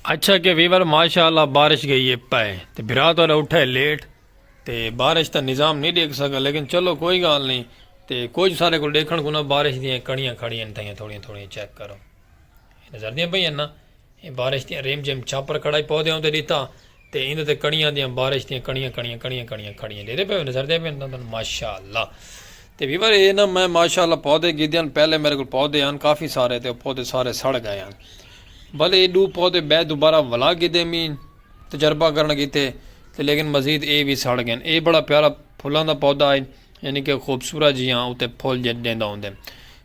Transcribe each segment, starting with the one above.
اچھا کہ ویور ماشاءاللہ بارش گئی ہے پائے تے بھرا تو اٹھا ہے لیٹ تے بارش تا نظام نہیں دیکھ سکا لیکن چلو کوئی گال نہیں تے کوئی سارے کو دیکھن کو نہ بارش دیاں کڑیاں کھڑیاں تھا تھوڑیاں تھوڑیاں چیک کرو نظر دیاں پہ یہ نا یہ بارش دیاں ریم جیم چھاپر کھڑا ہی پودے ہوں تے دیتا تے ایندے تے کڑیاں دیاں بارش دیاں کڑیاں کڑیاں کڑیاں کڑیاں کھڑیاں ڈیدے پئے نظر دے پئے تن ماشاءاللہ تے ویور اے نا میں ماشاءاللہ پودے گھدے ہن پہلے میرے کول پودے ہن کافی سارے تے او پودے سارے سڑ گئے ہن بلے اے ڈو پودے بے دوبارہ ولا گھدے می تجربہ کرن کیتے تے لیکن مزید اے وی سڑ گئے اے بڑا پیارا پھلاں دا پودا ہے یعنی کہ خوبصورت جیاں اتے پھل جے ڈیندا ہوندے۔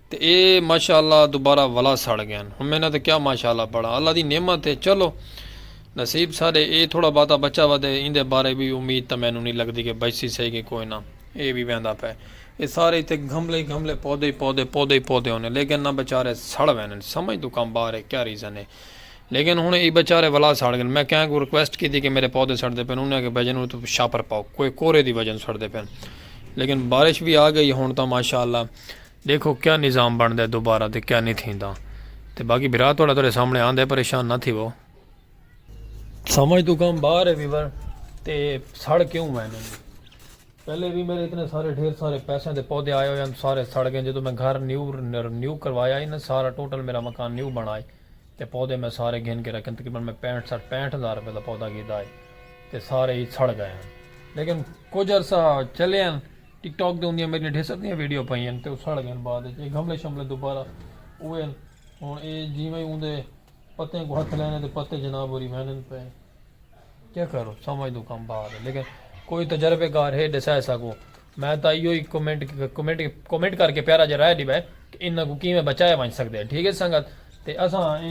تے اے ماشاء اللہ دوبارہ ولا سڑ گئن ہن میں انہاں تے کیا ماشاء اللہ پڑھاں اللہ دی نعمت ہے چلو نصیب ساڈے اے تھوڑا باتا بچہ ودے ایندے بارے وی امید تاں مینوں نی لگدی کہ بچسی سہی کہ کوئی نہ اے وی ویندا پئے اے سارے ایتھے گھملے ہی گھملے پودے ہی پودے پودے ہی پودے ہونے لیکن نہ بچارے سڑ ویندن سمجھ توں کم باہر ہے کیا ریزن ہے لیکن ہن ای بچارے ولا سڑ گئن میں کہیں کو ریکویسٹ کیتی کہ میرے پودے سڑدے پن انہاں کہ بھجن نو تو شاپر پاؤ کوئی کورے دی وجہ سڑدے پن لیکن بارش بھی آ گئی ہن تاں ماشاءاللہ ڈیکھو کیا نظام بنڑدا ہے دوبارہ تے کیا نی تھیندا تے باقی بھرا تہاڈا تہاڈے سامنے آندا ہے پریشان نہ تھیوو۔ سمجھ توں کم باہر ہے ویور تے سڑ کیوں وین ہن پہلے وی میرے اتنے سارے ڈھیر سارے پیسیاں دے پودے آئے ہوئے ہن سارے سڑ گئے جدوں میں گھر نیو نیو کروایا ہی نا سارا ٹوٹل میرا مکان نیو بنڑا ہی تے پودے میں سارے گھن کے رکھے ہن تقریبا میں پینٹھ سٹھ پینٹھ ہزار روپے دا پودا گھیدا ہی تے سارے ہی سڑ گئے ہن لیکن کچھ عرصہ چلے ہن۔ ٹک ٹاک دے اوندیاں میڈیاں ڈھیر سردیاں ویڈیو پائی ہن تے او سڑ گئن بعد اچ اے گھملے شملے دوبارہ اوئے ہن ہن اے جیویں اوندے پتیں کوں ہتھ لینے تے پتے جناب ہوری ویندن پئے کیا کرو سمجھ دو کم باہر ہے لیکن کوئی تجربے کار ہے ڈسے اساں کو میں تاں ایو ہی کمنٹ کمنٹ کمنٹ کر کے پیارا جا رائے ڈیوے کہ انہاں کو کیویں بچایا ونج سکدے ٹھیک ہے سنگت تے اساں اے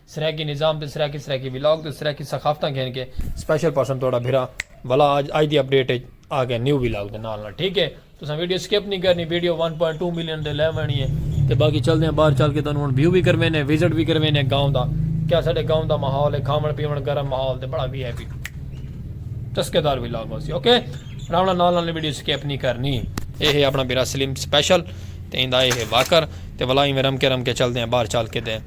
سرائیکی نظام تے سرائیکی سرائیکی ولاگ تے سرائیکی ثقافتاں گھن کے سپیشل پرسن تہاڈا بھرا ولا اج اج دی اپ ڈیٹ اچ آ گیا نیو ولاگ دے نال نال ٹھیک ہے تساں ویڈیو سکپ نہیں کرنی ویڈیو 1.2 ملین دے لے وینی ہے تے باقی چلدے ہیں باہر چل کے تانوں ہن ویو وی کروینے وزٹ وی کروینے گاؤں دا کیا ساڈے گاؤں دا ماحول ہے کھاون پیون گرم ماحول تے بڑا وی آئی پی چسکے دار ولاگ ہوسی اوکے راونا نال نال ویڈیو سکپ نہیں کرنی اے ہے اپنا بھرا سلیم سپیشل تے ایندا اے ہے واکر تے ولا ایویں رم کے رم کے چلدے ہیں باہر چل کے تے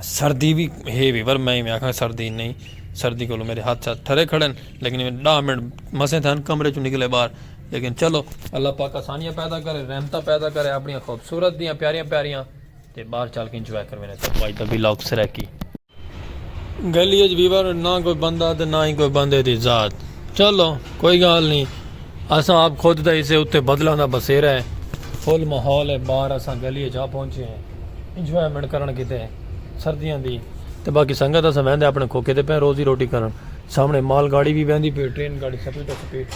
سردی وی ہے وی پر میں ایویں آکھاں سردی نئیں سردی کولوں میݙے ہتھ شتھ ٹھرے کھڑے ہن لیکن ایویں ݙاہ منٹ مسئیں تھئے ہن کمرے چوں نکلے ٻاہر لیکن چلو اللہ پاک آسانیاں پیدا کرے رحمتاں پیدا کرے اپݨیاں خوبصورت دیاں پیاریاں پیاریاں تے ٻاہر چل کے انجوائے کرویندے سݙے ٻھائی دا ولاگ سرائیکی۔ گلی اچ ویور نہ کوئی بندہ تے نہ ہی کوئی بندے دی ذات چلو کوئی گال نہیں اساں آپ خود تے اسے اتے بدلاں دا بسیرا ہے فل ماحول ہے باہر اساں گلی اچ آ پہنچے ہیں انجوائمنٹ کرن کیتے سردیاں دی تے باقی سنگت اساں ویندے اپنے کھوکے تے پہ روزی روٹی کرن سامنے مال گاڑی بھی ویندی پی ٹرین گاڑی سپیڈ سپیڈ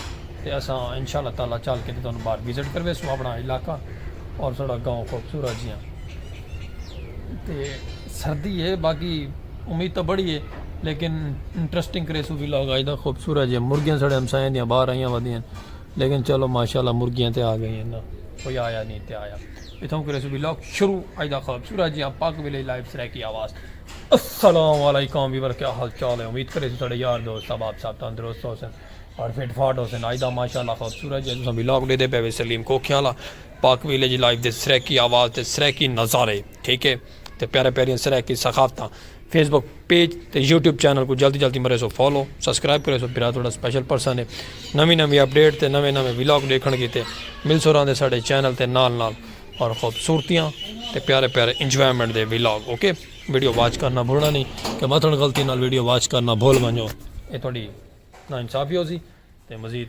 تے اساں انشاءاللہ تعالی چل کے تے تانوں باہر وزٹ کرویسوں اپنا علاقہ اور ساڑا گاؤں خوبصورت جیاں تے سردی ہے باقی امید تاں بڑی ہے لیکن انٹرسٹنگ کریس بھی لوگ آج دا خوبصورت جے مرگیاں سڑے ہم سائیں دیاں باہر آئیاں ودیاں لیکن چلو ماشاءاللہ مرگیاں تے آ گئی ہیں نا کوئی آیا نہیں تے آیا اتھوں کریس بھی لوگ شروع آج دا خوبصورت جے پاک ویلے لائف سرے کی آواز السلام علیکم بھی ورکہ حال چال ہے امید کریس سڑے یار دوست اب آپ صاحب تندرست ہو سن اور فٹ فاٹ ہو سن آج دا ماشاءاللہ خوبصورت جے تساں بھی لوگ دے دے پہ سلیم کو کھیالا پاک ویلیج لائیو دے سرائیکی آواز تے سرائیکی نظارے ٹھیک ہے تے پیارے پیاریاں سرائیکی سخافتاں فیس بک پیج تے یوٹیوب چینل کو جلدی جلدی مرے سو فالو سبسکرائب کرے سو برا تھوڑا سپیشل پرسن ہے نویں نویں اپڈیٹ تے نویں نویں ولاگ دیکھن کیتے مل سو راندے ساڈے چینل تے نال نال اور خوبصورتیاں تے پیارے پیارے انجوائمنٹ دے ولاگ اوکے ویڈیو واچ کرنا بھولنا نہیں کہ مثلا غلطی نال ویڈیو واچ کرنا بھول ونجو اے تھوڑی نا انصافی ہو سی تے مزید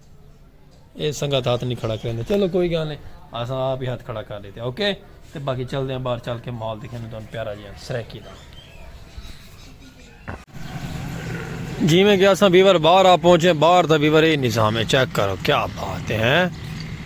اے سنگت ہاتھ نہیں کھڑا کریں دے چلو کوئی گال نہیں اساں آپ ہی ہاتھ کھڑا کر دیتے اوکے تے باقی چل دے ہیں باہر چل کے مال دکھیں دے پیارا جی ہیں سریکی دا جی میں گیا ساں بیور باہر آ پہنچے باہر تھا بیور اے نظام ہے چیک کرو کیا بات ہے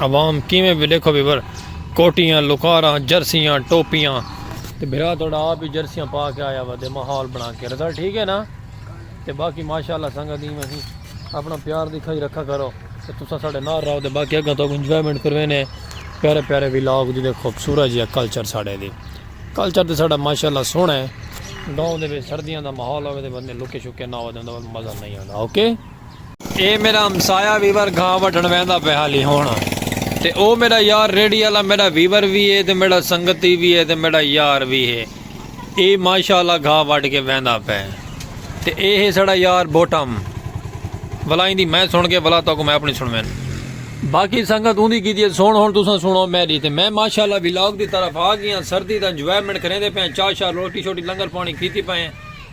عوام کیویں بھی ڈیکھو بھی بر کوٹیاں لکاراں جرسیاں ٹوپیاں تے بھرا تھوڑا آپ ہی جرسیاں پا کے آیا وا تے ماحول بنا کے رضا ٹھیک ہے نا تے باقی ماشاءاللہ سنگا دی میں ہی اپنا پیار دکھائی رکھا کرو تے تسا ساڈے نال رہو تے باقی اگا تو انجوائمنٹ کروینے پیارے پیارے ولاگ دی تے خوبصورت جی کلچر ساڈے دی کلچر تے ساڈا ماشاءاللہ سونا ہے گاؤں دے وچ سردیاں دا ماحول ہوے تے بندے لکے شکے نہ ہو جاندے مزہ نہیں آندا اوکے okay? اے میڈا ہمسایہ ویور گھاہ وڈھن ویندا پئے حالی ہن تے او میڈا یار ریڑھی آلا میڈا ویور وی اے تے میڈا سنگتی وی اے تے میڈا یار وی اے اے ماشاء اللہ گھاہ وڈھ کے ویندا پئے تے اے ہے ساڈا یار بوٹم ولا ایندی میں سن کے ولا تاکو میں اپنی سنوین باقی سنگت اوندی کیتی سن ہن تساں سنو میڈی تے میں ماشاء اللہ ولاگ دی طرف آ گیاں سردی دا انجوائمنٹ کریندے پئے چاہ شاہ روٹی شوٹی لنگر پانی کیتی پئے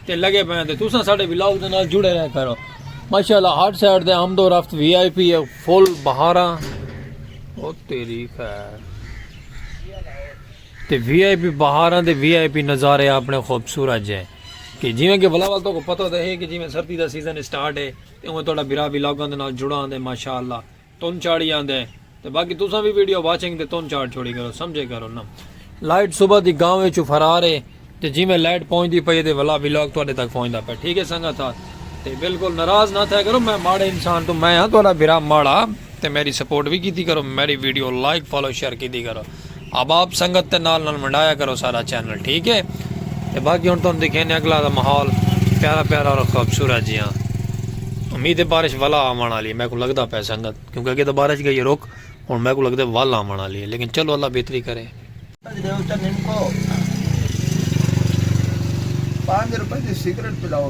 تے لگے پئے تے تساں ساڈے ولاگ دے نال جڑے رہے کرو ماشاءاللہ ہارڈ سائڈ دے آمد و رفت وی آئی پی فل بہاراں او تیری خیر تے وی آئی پی بہاراں دے وی آئی پی نظارے اپنے خوبصورت جے کہ جویں کہ بلا وال تو کو پتہ تے ہے کہ جویں سردی دا سیزن سٹارٹ ہے تے اوہ تہاڈا بھرا ولاگاں دے نال جڑا آندے ماشاءاللہ تن چاڑی آندے تے باقی تساں وی ویڈیو واچنگ تے تن چاڑ چھوڑی کرو سمجھے کرو نا لائٹ صبح دی گاؤں وچوں فرار ہے تے جی میں لائٹ پہنچ دی پئی تے ولا ولاگ تواڈے تک پہنچدا پیا ٹھیک ہے سنگت تھا تے بالکل ناراض نہ تھیا کرو میں ماڑے انسان تو میں ہاں تواڈا بھرا ماڑا تے میری سپورٹ وی کیتی کرو میری ویڈیو لائک فالو شیئر کیتی کرو احباب سنگت تے نال نال ونڈایا کرو ساڈا چینل ٹھیک ہے تے باقی ہن تہاڈوں دکھینے اگلا دا ماحول پیارا پیارا اور خوبصورت جیاں امید ہے بارش ولا آون والی ہے میکوں لگدا پے سنگت کیونکہ اگے تے بارش گئی ہے رک ہن میکوں لگدا ہے ول آون والی ہے لیکن چلو اللہ بہتری کرے پانچ روپے دی سگریٹ پلاؤ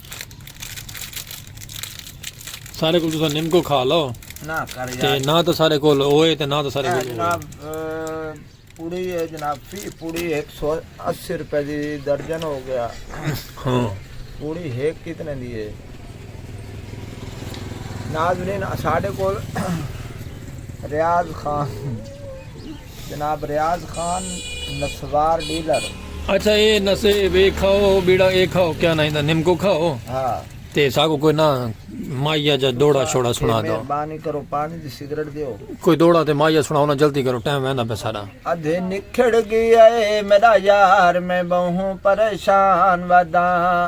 سارے کول تسا نم کو کھا لو نہ کر یار تے نہ تو سارے کول اوئے تے نہ تو سارے کول جناب پوڑی ہے جناب فی پوڑی 180 روپے دی درجن ہو گیا ہاں پوڑی ہے کتنے دی ہے ناظرین ساڈے کول ریاض خان جناب ریاض خان نسوار ڈیلر اچھا اے نسے وے کھاؤ بیڑا اے کھاؤ کیا نہ ایندا نمکو کھاؤ ہاں تے ساکو کوئی نہ مایا جا دوڑا چھوڑا سنا دو مہربانی کرو پانی دی سگریٹ دیو کوئی دوڑا تے مایا سنا ہونا جلدی کرو ٹائم ویندا پہ سارا ادھے نکھڑ گیا اے میرا یار میں بہوں پریشان وداں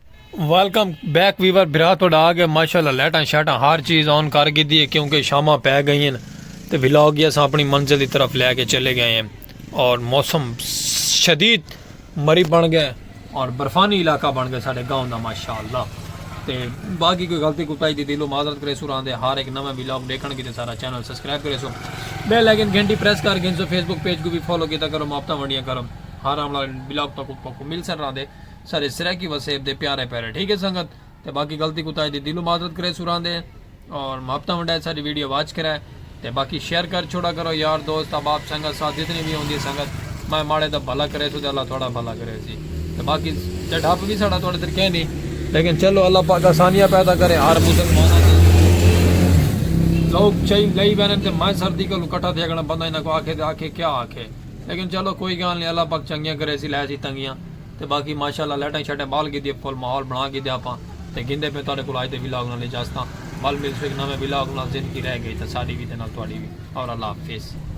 ویلکم بیک ویور بھرا تہاڈا آ گیا ماشاءاللہ لائٹاں شائٹاں ہر چیز آن کر گھدی ہے کیونکہ شاماں پے گئی ہیں تے ولاگ ہی اساں اپنی منزل دی طرف لے کے چلے گئے ہیں اور موسم شدید مری بن گئے اور برفانی علاقہ بن گئے ساڈے گاؤں دا ماشاءاللہ تے باقی کوئی غلطی کوتا ہی دی دلو معذرت کرے سو راندے ہر ایک نویں ولاگ دیکھن کی تے سارا چینل سبسکرائب کرے سو بیل آئیکن گھنٹی پریس کر گھن سو فیس بک پیج کو بھی فالو کیتا کرو ماپتا ونڈیاں کرو ہر آمنا ولاگ تک کو مل سر راندے سارے سرائیکی وسیب دے پیارے پیارے ٹھیک ہے سنگت تے باقی غلطی کوتاہی دی دلوں معذرت کرے سوراں دے اور محبتاں ونڈائے ساری ویڈیو واچ کرے تے باقی شیئر کر چھوڑا کرو یار دوست احباب سنگت ساتھ جتنی بھی ہوندی سنگت میں ماڑے دا بھلا کرے سو تے اللہ تھوڑا بھلا کرے سی تے باقی جڈھپ بھی ساڑا تھوڑے در کہنی لیکن چلو اللہ پاک آسانیاں پیدا کرے ہر مسلمانہ دی لوگ چاہی لئی بینن تے میں سردی کو لکٹا تھے اگنا بندہ انہاں کو آکھے تے آکھے کیا آکھے لیکن چلو کوئی گان لے اللہ پاک چنگیاں کرے سی لے سی تنگیاں تے باقی ماشاء اللہ لائٹاں شائٹاں بال گھدی اے فل ماحول بنا گھدیا آپاں تے گھندے پئے تہاڈے کول اج دے ولاگ نال اجازتاں ول ملسوں ہک نویں ولاگ نال زندگی رہ گئی تاں ساڈی وی تے نال تہاڈی وی اور اللہ حافظ۔